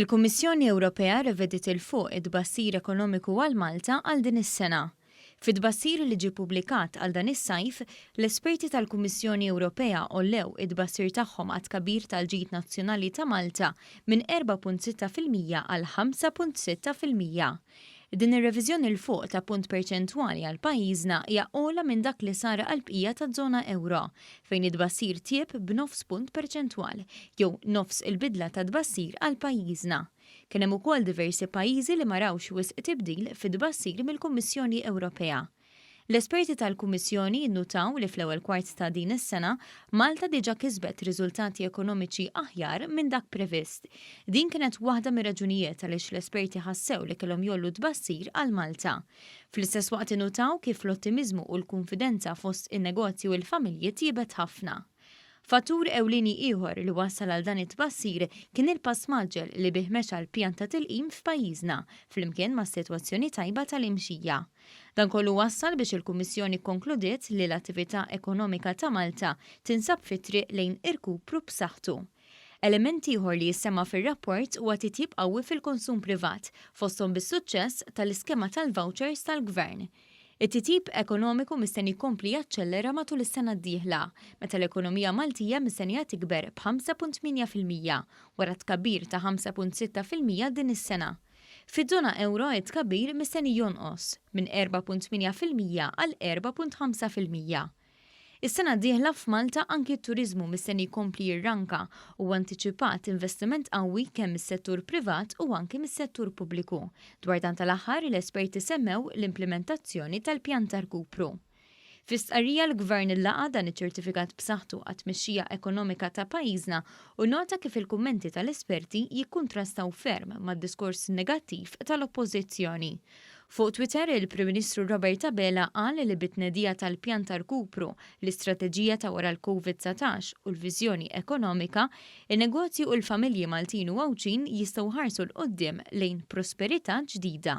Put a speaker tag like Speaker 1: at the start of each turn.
Speaker 1: Il-Kummissjoni Ewropea revediet 'il fuq it-tbassir ekonomiku għal Malta għal din is-sena. Fi tbassir li ġie ppubblikat għal dan is-sajf, l-esperti tal-Kummissjoni Ewropea għollew it-tbassir tagħhom għat-tkabbir tal-ġid nazzjonali ta' Malta minn 4.6 fil-mija għal 5.6 fil-mija. Din ir-reviżjoni 'l fuq ta' punt perċentwali għal pajjiżna hija ogħla minn dak li sar għall-bqija taż-żona ewro, fejn it-tbassir tjieb b'nofs punt perċentwal, jew nofs il-bidla ta' tbassir għal pajjiżna. Kien hemm ukoll diversi pajjiżi li ma rawx wisq tibdil fit-tbassir mill-Kummissjoni Ewropea. L-esperti tal-Kummissjoni jinnutaw li fl-ewwel kwart ta' din is-sena, Malta diġà kisbet riżultati ekonomiċi aħjar minn dak previst. Din kienet waħda mir-raġunijiet għaliex l-esperti ħassew li kellhom jgħollu t-tbassir għal Malta. Fl-istess waqt innutaw kif l-ottimiżmu u l-kunfidenza fost in-negozji u l-familji tjiebet ħafna. Fattur ewlieni ieħor li wassal għal dan it-tbassir kien il-pass mgħaġġel li bih mexa l-pjan ta' tilqim f'pajjiżna, flimkien mas-sitwazzjoni tajba tal-imxija. Dan kollu wassal biex il-Kummissjoni kkonkludiet li l-attività ekonomika ta' Malta tinsab fit-triq lejn irkupru b'saħħtu. Element ieħor li jissemma' fir-rapport huwa titjib qawwi fil-konsum privat, fosthom bis-suċċess tal-iskema tal-vouchers tal-Gvern. It-titjib ekonomiku mistenni jkompli jaċċellera matul is-sena d-dieħla, meta l-ekonomija Maltija mistennija tikber b'ħamsa punt tmienja fil-mija, wara tkabbir ta' ħamsa punt sitta fil-mija din is-sena. Fiż-żona ewro it-tkabbir mistenni jonqos minn erbgħa punt tmienja fil-mija għal erbgħa punt ħamsa fil-mija. Is-sena d-dieħla f'Malta anki t-turiżmu mistenni jkompli jirranka u antiċipat investiment qawwi kemm mis-settur privat u anki mis-settur pubbliku. Dwar dan tal-aħħar, l-esperti semmew l-implimentazzjoni tal-pjan ta' rkupru. Fi stqarrija l-Gvern laqa' dan iċ-ċertifikat b'saħħtu għat-tmexxija ekonomika ta' pajjiżna u nota kif il-kummenti tal-esperti jikkuntrastaw ferm mad-diskors negattiv tal-Oppożizzjoni. Fuq Twitter, il-Prim Ministru Robert Abela qal li bit-tnedija tal-Pjan ta' Rkupru, l-Istrateġija ta' wara l-Covid 19 u l-Viżjoni Ekonomika, in-negozji u l-familji Maltin u Għawdxin jistgħu jħarsu 'l quddiem lejn prosperità ġdida.